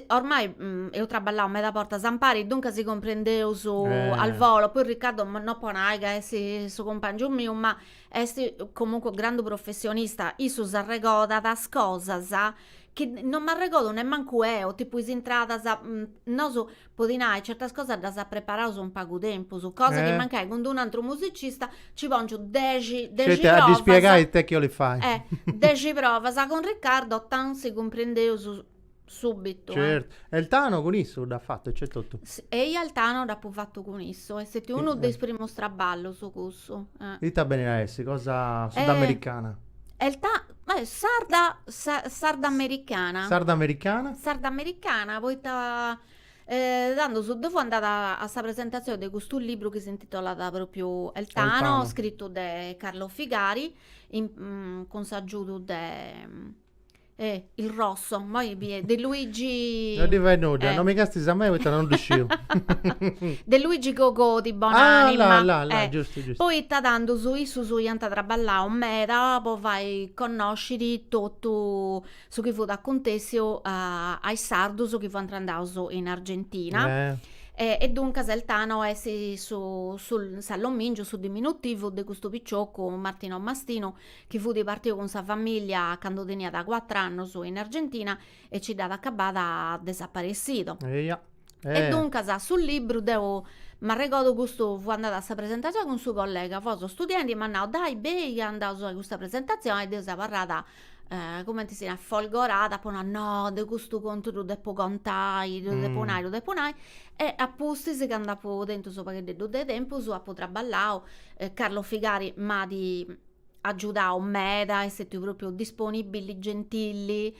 Speaker 2: ormai eus traballau meda bortas impari, duncas si cumprendeus al volo, poi Riccardo no po nai ca est su cumpangiu miu, ma Est comunque grandu professionista, issu s'arregodat is cosas chi non m'arregodu nemmancu eo, tipu is intradas, nosu po ti nai certas cosas ddas preparaus in pagu tempus, cosa chi mancai cun d'unu antru musicista nci pongiu dexi dexi provas. Sceti a ddi
Speaker 1: spiegai ite chi 'olit fai. Dexi provas,
Speaker 2: cun Riccardo tan si cumprendeus Subitu. Certu. E El
Speaker 1: Tano cun issu dd'at fatu e nc'est totu? Eia El
Speaker 2: Tano dd'apu fatu cun issu, est stetiu unu de is primus traballus cussu. Ita benit a
Speaker 1: essi, cosa sudamericana? E il Ta, beh, sarda,
Speaker 2: sardamericana. Sardamericana? Sardamericana poita tandus deu fui andada a sa presentatzioni de custu libru chi s'intitolat propriu El Tano, El Tano. scritu de Carlo Figari cun s'agiudu de Eh il rosso, moi bi est de Luigi No ddi fait nudda,
Speaker 1: no mi castis a mei poita no ddu
Speaker 2: sciu. de Luigi Cogodi, bon'anima. Ah, là, là, là, eh, giustu, giustu.
Speaker 1: Poita tandus
Speaker 2: issus iant traballau meda po fai connosciri totu su chi fut acuntessiu a is sardus chi fuant andaus in Argentina. Eh. E duncas El Tano est su su s'allomìngiu, su diminutivu de custu picioccu Martino Mastinu chi fut partiu cun sa famìllia candu teniat cuatru annus in Argentina e nci dd'at acabada desaparecido. Eia. E duncas su libru deu m'arregodu custu fui andada a sa presentazioni cun su collega fosu studiendi e m'at nau dai bei chi andaus a custa presentazioni e deu seu abarrada cumenti si narat folgorada apu nau no deu custu contu ddu depu contai ddu depu nai ddu depu nai e a pustis candu apu tentu su pagheddeddu de tempus apu traballau Carlo Figari m'at agiudau meda, est stetiu propriu disponibili, gentili,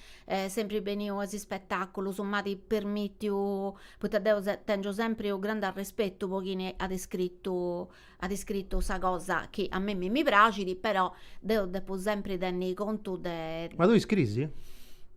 Speaker 2: sempri beniu a is spetaculus, m'at permitiu, poita deu tengiu sempri u' grande arrespetu po chini at scritu at scritu sa cosa chi a mimmi mi praxit, però deu depu sempri tenni contu de. Ma tui scrisi?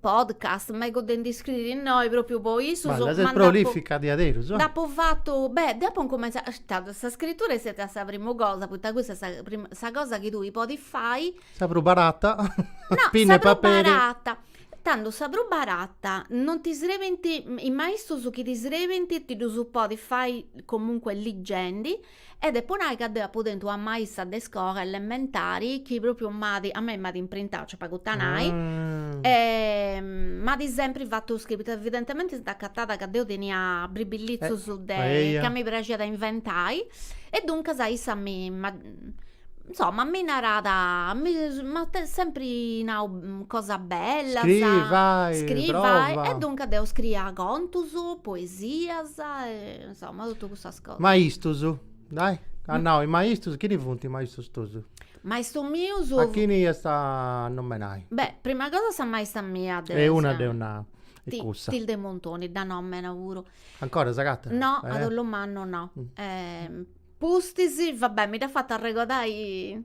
Speaker 2: podcast megu de ndi scriri innoi propriu po issu ma ses
Speaker 1: prolifica diaderus nd'apo
Speaker 2: fatu beh deu apo incumentzau sa scritura est stètia sa primu cosa poita cussa est sa primu sa cosa chi tui podis fai sa prus
Speaker 1: barata no
Speaker 2: sa
Speaker 1: prus
Speaker 2: barata tando sa prus barata non ti srebint is maistus chi ti srebint ti ddus podis fai comunque ligendi E depo nai ca deu apu tentu una maista de iscola elementari chi propriu m'at, a mei m'at imprintau, c'est pagu ita nai, e m'at sempri fatu scriri, evidentementi s'est acatada ca deu tenia bribillizzus de, ca mi praxiat a inventai, e duncas issa m'at, insoma mi narat, m'at sempri nau cosas bellas, scriri, fai, prova,
Speaker 1: e duncas deu
Speaker 2: scriia contus, poesias e Insomma, totu cussas cosas.
Speaker 1: Maistus, dai, as nau is maistus, chini funt is maistus tus? Maistu miu
Speaker 2: su... A chini iast a
Speaker 1: nomenai? Beh, prima cosa sa
Speaker 2: maista mia de... E una dd'eus
Speaker 1: nau, est cussa. Ti, Tilde Montoni,
Speaker 2: dda nomenu puru. Ancora
Speaker 1: s'agatat? No, a dolu
Speaker 2: mannu no. Pustis, va bè, mi dd'as fata arregodai...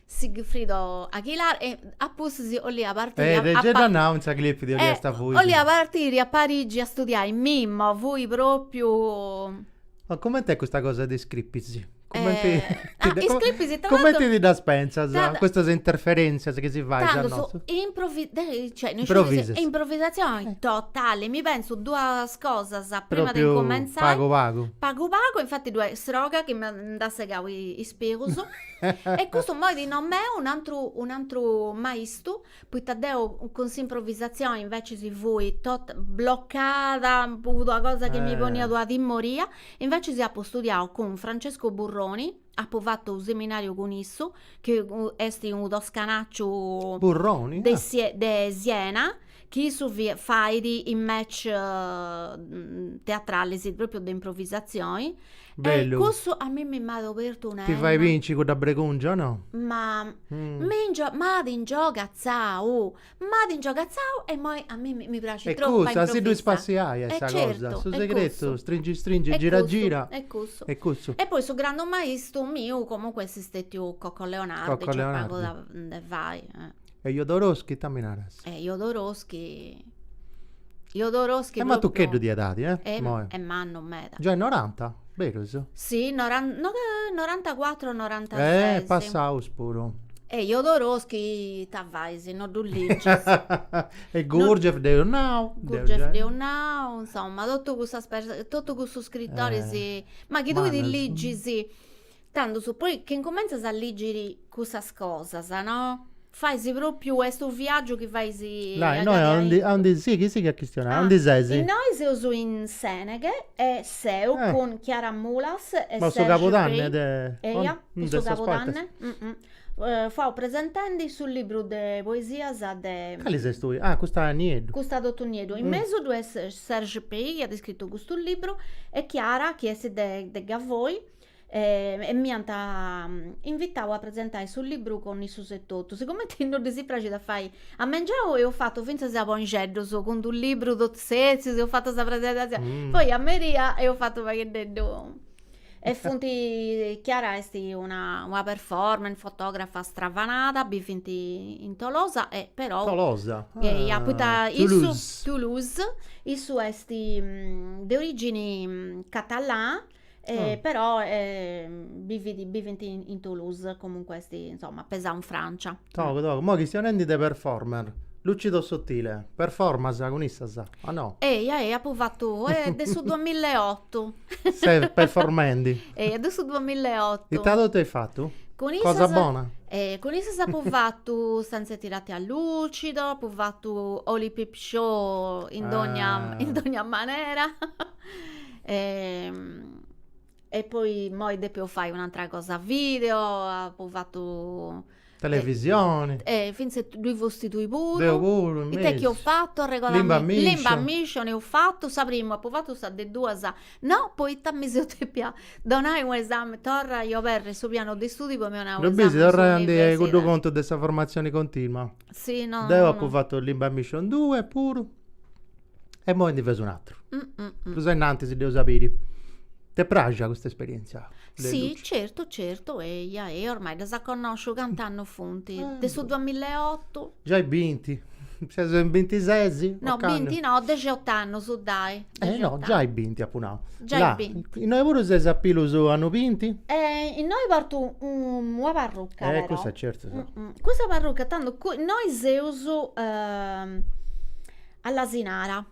Speaker 2: Sigfrido Aguilar e a pustis 'ollia partiri a Parigi. Gei dd'at nau in sa clip de 'olliat a fuiri. 'ollia partiri a Parigi a studiai mimu, fui propriu. Ma coment'est
Speaker 1: custa cosa de is clipis?
Speaker 2: Comenti ti ddas
Speaker 1: pentzas custas interferentzias chi si fais a
Speaker 2: nosu? Improvisas. Improvisatzioni totali, mi pentzu duas cosas prima de incumentzai. Pagu pagu. Pagu pagu, infati ddoi est sroga chi nd'at segau is pigus. E custu immoi ti nomenu un'antru un'antru maistu, poita deu cun s'improvvisatzioni invecias fui tota bloccada, puru una cosa chi mi poniat una timoria, invecias apu studiau cun Francesco Burroni, apu fatu u' seminariu cun issu, chi est unu toscanacciu Burroni?
Speaker 1: de de
Speaker 2: Siena chi issu fait is match teatralis propriu de improvisazioni
Speaker 1: e cussu a mimmi
Speaker 2: m'at obertu una 'enna. Ti fait binci cudda
Speaker 1: bregùngia o no? Ma
Speaker 2: m'at ingiogatzau, m'at ingiogatzau e imoi a mimmi mi praxit tropu a improvisai. E cussu a si ddu
Speaker 1: ispassiai est sa cosa, su segretu, stringi stringi, gira gira, est cussu. Est
Speaker 2: cussu. E poi su grandu
Speaker 1: maistu
Speaker 2: miu comunque est stetiu Cocco Leonardi, c'est pagu de fai
Speaker 1: E Jodorowsky ita mi naras? E
Speaker 2: Jodorowsky, Jodorowsky... Est matucheddu
Speaker 1: de edadi, eh? Est mannu
Speaker 2: meda. Giai noranta?
Speaker 1: Berus? Si,
Speaker 2: norantacuatru o norantases. Eh, passaus
Speaker 1: puru. E
Speaker 2: Jodorowsky ita fais si no ddu ligis?
Speaker 1: E Gurdjieff dd'eus nau. Gurdjieff dd'eus nau,
Speaker 2: insoma, totu cussas perso, totu cussus scrittoris, ma chi tui ligis, Tandus poi chi incumentzas a lìgiri cussas cosas, no? Fais pròpiu, est unu viàgiu chi fais Lai, innoi a
Speaker 1: aondi, aondi, sighi, sighi a chistionai, aondi seis? Innoi seus in
Speaker 2: Sèneghe e seu cun Chiara Mulas e Serge Pey. Ma su cabudanne de. Eia,
Speaker 1: in
Speaker 2: su cabudanne. Fuaus presentendi su libru de poesias de. Cali ses
Speaker 1: tui? Ah, custa Nieddu. Custa Totu Nieddu. In
Speaker 2: mesu ddoi est Serge Pey chi at scritu custu libru e Chiara chi est de Gavoi e m'iant invitau a presentai su libru cun issus etotu. Sigumenti no ddis praxit a fai a mengianu, eus fatu fintzas a bonixeddus cun d'u' libru totus setzius, eus fatu sa presentazzioni, poi a meria eus fatu fagheddeddu e funt, Chiara est una una performer, fotografa stravanada, bivint in Tolosa e però, Tolosa? Eia,
Speaker 1: poita issu,
Speaker 2: Toulouse, issu est de origini catalana Ah. però bivit, bivint in Toulouse, comunque
Speaker 1: est
Speaker 2: insomma
Speaker 1: pesau
Speaker 2: in
Speaker 1: Francia.
Speaker 2: Togu togu, moi
Speaker 1: chistionendi de
Speaker 2: performer, Lucido
Speaker 1: Sottile, performas cun issas o no? Ehi ehi apu fatu
Speaker 2: de su duamilla e otu.
Speaker 1: Ses performendi. Ehi de su
Speaker 2: duamilla e otu. Ita totu eis
Speaker 1: fatu? Cun issas. Cosa bona. Ehi cun issas
Speaker 2: apu fatu Stanze tirate a lucido, apu fatu Holy Peep Show in dogna in dogna manera. e poi immoi depio fai un'atera cosa video apu fatu
Speaker 1: televisioni e finzas
Speaker 2: ddui fusti tui puru deu puru in
Speaker 1: mesu ita est chi eus
Speaker 2: fatu arregodami limba
Speaker 1: mission
Speaker 2: limba
Speaker 1: mission
Speaker 2: eus fatu sa primu apu fatu sa de duas no poita mi seu depia donai u' esami torrai a oberri su pianu de studiu po mi 'onai u' esami in s'universidadi
Speaker 1: cuddu contu de sa formatzioni continua si no deu
Speaker 2: apu fatu limba
Speaker 1: mission due puru E moi ndi feus un'atru. Prus a innanti si dd'eus a biri. T'est praxia custa esperièntzia? Si,
Speaker 2: certu certu, eia, eia, ormai ddas connòsciu cant'annus funt, de su duamileotu. Giai binti,
Speaker 1: seus in bintises? No, binti
Speaker 2: no, dexeot'annus, dai. Eh no, giai
Speaker 1: binti apu nau. Giai
Speaker 2: binti. Innoi puru ses a
Speaker 1: pilus annus binti?
Speaker 2: Innoi portu una parruca però. Eh cussa certu.
Speaker 1: Cussa parruca, tando
Speaker 2: innoi seus All'Asinara.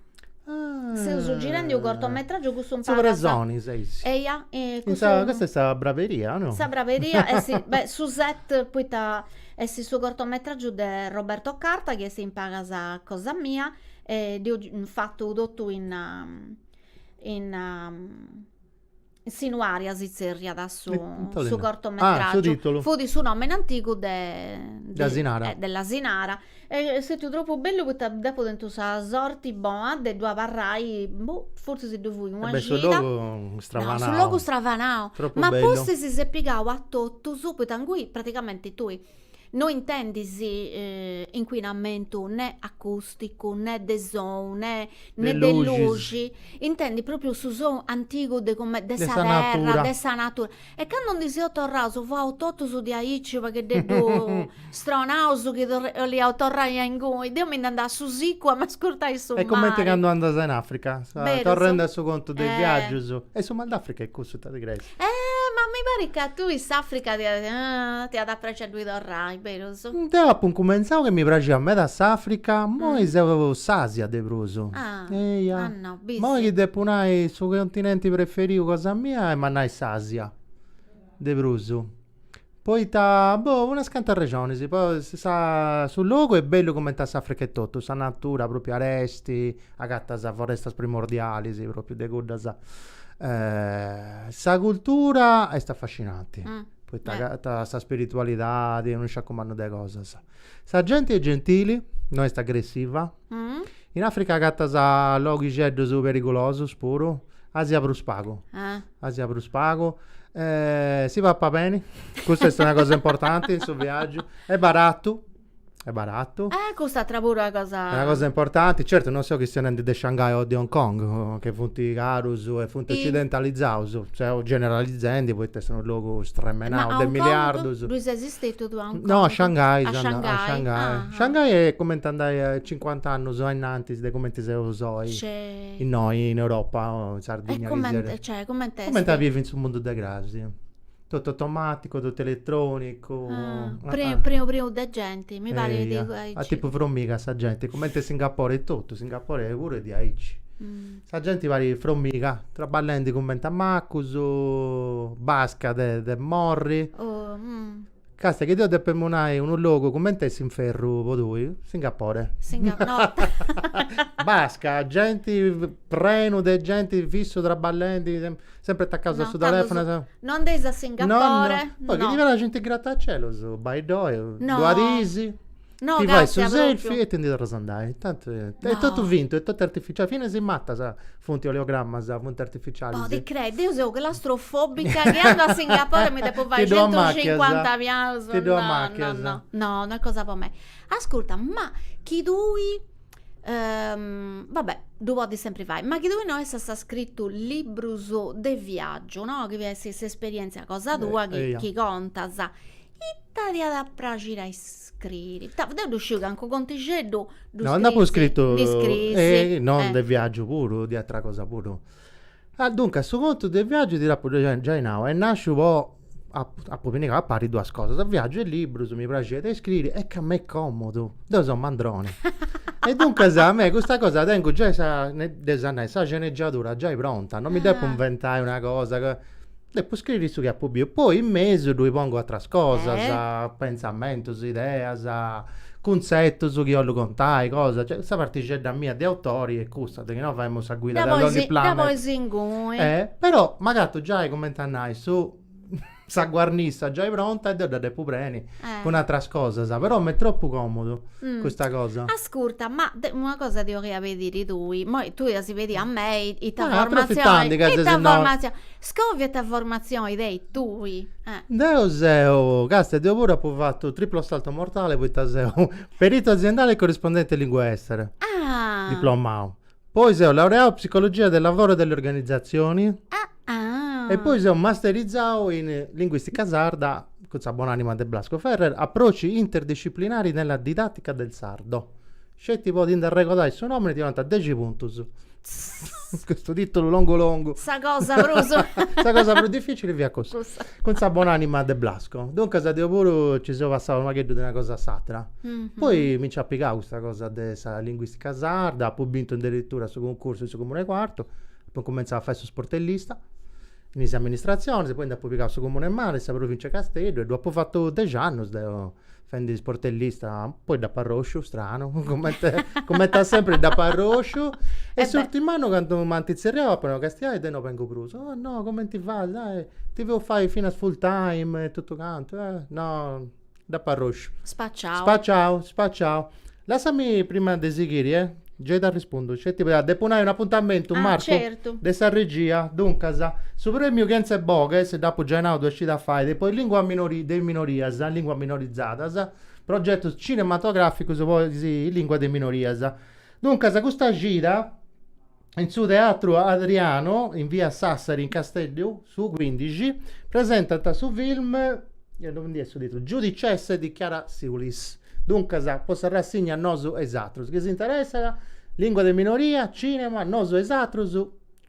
Speaker 2: Ah. Seus girendi unu cortometràgiu cun su. Su presoni
Speaker 1: seis. Eia. Custa est sa braberia o no? Sa braberia est,
Speaker 2: beh, su set poita est su cortometràgiu de Roberto Carta chi est in pagas cosa mia e dd'eus fatu totu in Sinuaria si tzerriat su, eh, su
Speaker 1: cortometràgiu,
Speaker 2: ah, fut
Speaker 1: su nòmene
Speaker 2: antigu de, de s'asinara,
Speaker 1: eh, de l'asinara,
Speaker 2: est stetiu tropu bellu poita deu apu tentu sa sorti bona de ddu abarrai, boh, fortzis ddu fui una cida, su
Speaker 1: logu
Speaker 2: stravanau,
Speaker 1: su logu stravanau,
Speaker 2: ma pustis
Speaker 1: si est
Speaker 2: pigau
Speaker 1: a
Speaker 2: totus, poita ingui pratigamenti tui No intendis incuinamentu ne acusticu, ne de sonu, ne de luxi, intendis propriu su sonu antigu de come de sa terra, de sa natura. E candu ndi seus torraus fiaus totus diaici unu pagheddeddu stronaus chi 'oliaus torrai a inguni. Deu mi nd'andau a su sicu a m'ascurtai su mari. Est cumenti candu
Speaker 1: andas in Africa, torrendi a su contu de is viaggius, est su mal d'Africa est cussu ita ti creis? E ma mi
Speaker 2: parit ca a tui s'Africa ti at ti at a praxi a ddui torrai, berus? Deu apu incumentzau
Speaker 1: chi mi praxiat meda s'Africa, ma oi seu s'Asia de prus. Ah, Eia. ah
Speaker 2: no, b'is. Ma oi chi
Speaker 1: depu nai su continenti preferiu cosa mia est emu a nai s'Asia, de prus. Poita, boh, unas cantas rexonis, po sa su logu est bellu cumenti a s'Africa etotu, sa natura propriu aresti, agatas forestas primordialis, propriu de cuddas, sa cultura est affascinanti, poita agatas sa spiritualidadi e unu sciacumannu de cosas, sa genti est gentili, no est agressiva In Africa agatas loghixeddus perigulosus puru, Asia prus pagu, Asia prus pagu, si papat beni, custa est una cosa importanti in su viaggiu, est baratu, est
Speaker 2: baratu, una cosa
Speaker 1: importanti, certu non seu chistionendi de Shangai o de Hong Kong chi funt carus e funt occidentalizaus, seu generalizendi poita est unu logu stremenau de miliardus
Speaker 2: Stetiu a Hong Kong? No, a Shanghai. A
Speaker 1: Shanghai. A
Speaker 2: Shanghai. Ah, ah. Shanghai est
Speaker 1: comente andai a 50 annus a innantis de comente seus oi. Scè. Innoi in Europa o in Sardinnia. E comente, cioè, comente
Speaker 2: est? Comente a bivi
Speaker 1: in su mundu de cras. Totu automaticu, totu eletronicu. Ah, preu,
Speaker 2: preu, preu de genti, mi parit de aici. A tipu fromiga sa
Speaker 1: genti, comente Singapore etotu, Singapore puru est diaici. Sa genti parit fromiga, traballendi cumenti a macus, basca de de morri. Castia chi deu depemu nai unu logu cumenti a essi s'inferru po tui, Singapore. Basca, genti, prenu de genti fissu traballendi, sempri atacaus a su telefunu e sa. No andeis a
Speaker 2: Singapore, no. Poi chi ti praxint
Speaker 1: is gratacielus, bai-ddoi duas dis. No, ti
Speaker 2: fai su
Speaker 1: selfie e ti ndi torras andai. Intantu eh, no. è totu fintu, è totu artificiali. Finas is matas funt oleogrammas, funt artificialis. No, ti crei, deu seu
Speaker 2: claustrofobica chi andu a Singapore e mi depu fai centucincuanta pianus. Ti ddoi amachias?
Speaker 1: No, no, no, no
Speaker 2: est cosa po mei. Ascurta, ma chi tui Um, vabbè, ddu podis sempri fai, ma chi tui no essas scritu librus de viaggiu, no? Chi est s'esperientzia cosa tua chi, chi contas. Ita ti iat a praxiri a iscriri? Ita, deu ddu sciu cancu contixeddu ddu No, nd'apu
Speaker 1: scritu, e no de viaggiu puru, de atera cosa puru. Ah duncas, su contu de viaggiu ti dd'apu giai nau, est nasciu po, apu pinigau a pari duas cosas, viaggiu e liburus, mi praxit a iscriri e ca m'est comodu, deu seu mandroni e duncas a mei custa cosa tengu giai sa, de sa nai, sa sceneggiadura giai pronta, no mi depu inventai una cosa ca Depu scriri su chi apu biu, poi in mesu ddui pongu atras cosas, pentzamentus, ideas, cuntzetus chi 'ollu contai, cosas, cioè sa partixedda mia de autori est custa, de chi no femu sa guida de Lonely Planet, però m'agatu giai cumenti a nai su sa guarnissa giai pronta e deu dda depu preni cun atras cosas, però m'est tropu comodu custa cosa. Ascurta, ma deu
Speaker 2: una cosa ti 'olia pediri deu, moi tui as pedi‌u a mei ita formazioni, ita
Speaker 1: formazioni
Speaker 2: scòvia ita formatzioni tenis tui. Deo
Speaker 1: seu, castia, deo puru apu fatu triplo salto mortale poita seu perito aziendale e corrispondente lingue estere. Ah. Diplomau. Poi seu laureau psicologia del lavoro e delle organizzazioni. Ah ah. E poi seu masterizau in linguistica sarda cun sa bon'anima de Blasco Ferrer, approcci interdisciplinari nella didattica del sardo. Sceti po ti ndi arregodai su nomini ti donant dexi puntus. Custu titulu longu longu. Sa cosa
Speaker 2: prus. Sa cosa prus
Speaker 1: dificili fiat cussa. Cussa. Cun sa bonanima de Blasco. Duncas deu puru ci seu passau unu pagheddu de una cosa a s'atra. Poi mi nc'at pigau custa cosa de sa linguistica sarda, apu bintu aderitura su cuncursu in su comunu 'e Quartu, apu incumentzau a fai su sportellista in is amministrazionis, poi nd'apu pigau su comunu 'e Mara, sa provincia 'e Casteddu e ddu apu fatu dexi annus deu fendi sportellista, poi dd'apo arrosciu, stranu, comente comente a sempre dd'apo arrosciu, e E beh. s'urtim'annu candu m'ant tzerriau apo nau, Castiai deu no bengu prus, oh no, comenti fas, dai, ti feus fai finas full time e totu cantu, eh, no, dd'apo arrosciu. Spaciau. Spaciau, spaciau Lassami prima de sighiri, eh. Gei t'arrispundu, sceti poita depu nai un'apuntamentu, Ah, Marcu, certu. de sa
Speaker 2: regia.
Speaker 1: Duncas, su premiu Kentzeboghes, dd'apu giai nau duas cidas fait, de po is linguas minori, de is minorias, linguas minorizadas, progetus cinematograficus po is linguas de is minorias. Duncas, custa cida. in su Teatru Adriano, in via Sassari, in Casteddu, su cuindixi, presentant su film, non ndi est su titulu, Giudicesse di Chiara Siulis. Duncas, po sa rassigna Nosu e is atrus. Chi s'interessat, lìngua de minoria, cìnema, nosu e is atrus,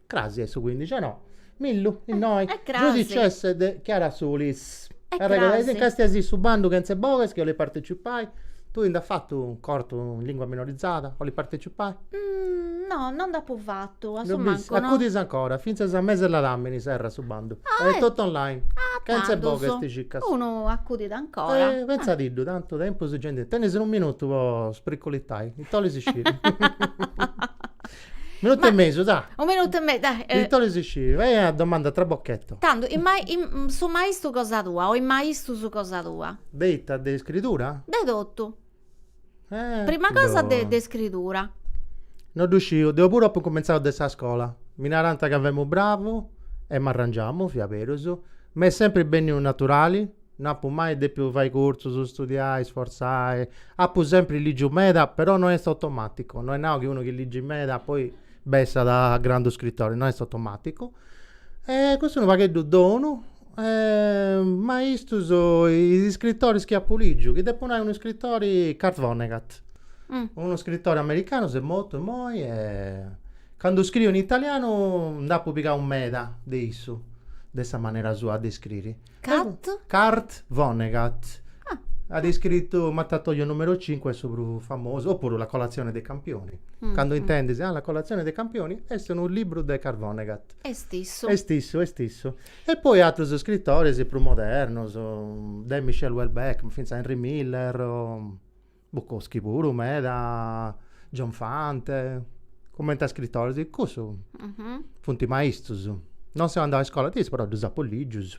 Speaker 1: cras est su cuindixi, o no? Millu, eh, innoi, eh, eh, giudicesse de Chiara Sulis. Eh, eh Arregoda, crasi. Castiaisì su bandu Kentzeboghes chi 'olit partecipai? Tui nd'as fatu u' cortu in lingua minorizada? 'olit partecipai? Mm, no,
Speaker 2: no nd'apu fatu, a su mancu no. Dd'olis?
Speaker 1: Acudis ancora, fintzas a mes'e ladàmini serrat su bandu. Ah, eh! Est totu online. Ah, tandus. Kentzeboghes ti circas. Unu
Speaker 2: acudit ancora. Eh, pentzadiddu, tantu
Speaker 1: tempus gei ndi tenis. Unu minutu po spriculitai, ita 'olis sciri? Minutu Ma- e mesu, dai. Unu minutu e me-
Speaker 2: dai, eh. Ita 'olis sciri,
Speaker 1: vai a domanda a trabocchetto. Tandu, in mai-
Speaker 2: in- su maistu cosa tua o is maistus cosa tua? De ita, de iscridura?
Speaker 1: De totu. Eh,
Speaker 2: Prima cosa de, boh. de iscridura. No
Speaker 1: ddu sciu, deu puru apu incumentzau de sa scola. Mi narant ca femu bravu e m'arrangiamu, fiat berus. M'est sempri benniu naturali No apu mai depiu fai cursus, studiai, isfortzai, apu sempri lìgiu meda, però no est automàticu, no est nau chi unu chi ligit meda poi bessat grandu scritori, no est automàticu, e custu est unu pagheddu donu, maistus, is iscritoris chi apu lìgiu, chi depu nai unu iscritori, Kurt Vonnegut, unu iscritori americanu, s'est mortu immoi e candu scriu in italianu nd'apu pigau meda de issu, de sa manera sua de iscriri Kurt. Kurt Vonnegut. Ah. At iscritu Mattatoio numero cinque est su prus famosu, o puru La colazione dei campioni. Candu intendis, ah La colazione dei campioni est unu libru de Kurt Vonnegut. Est issu.
Speaker 2: Est issu, est
Speaker 1: issu. E poi atrus scritoris prus modernos, de Michel Houellebecq, finzas Henry Miller o Bukowski puru meda, John Fante, cumenti a scrittoris, cussus funt maistus. Non seu andau a iscola de issus, però ddus apu ligius.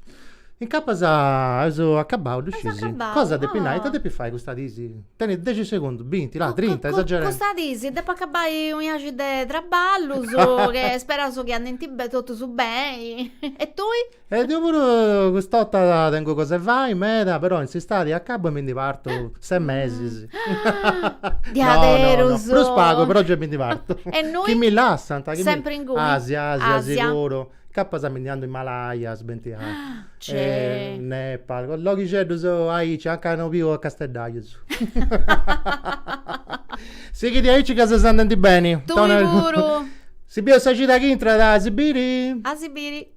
Speaker 1: Incapas eus acabau de sciusi cosa depis nai, ita depis fai custas dis, tenis dexi segundus, binti, là, trinta, esagerendi. Custas dis
Speaker 2: depu acabai u' 'iaxi de traballus, che speraus chi andinti totus beni. E tui? E deu
Speaker 1: puru cust'orta tengu cos'e fai meda, però in s'istadi acabbu e mi ndi partu ses mesis. Diaderus!
Speaker 2: No, no, no, prus pagu, però gei mi
Speaker 1: ndi partu. E innui? Chi mi
Speaker 2: lassant.
Speaker 1: Sempri inguni? Asi,
Speaker 2: Asia, Asia, siguru.
Speaker 1: Capas a mi ndi andu in Malaysia, Vietnam. Cei. Nepal, loghixeddus aici, anca no biu casteddajus. Sighidi aici ca ses andendi beni. Tui puru!
Speaker 2: Si bieus sa
Speaker 1: cida chi intrat a si biri? A si biri!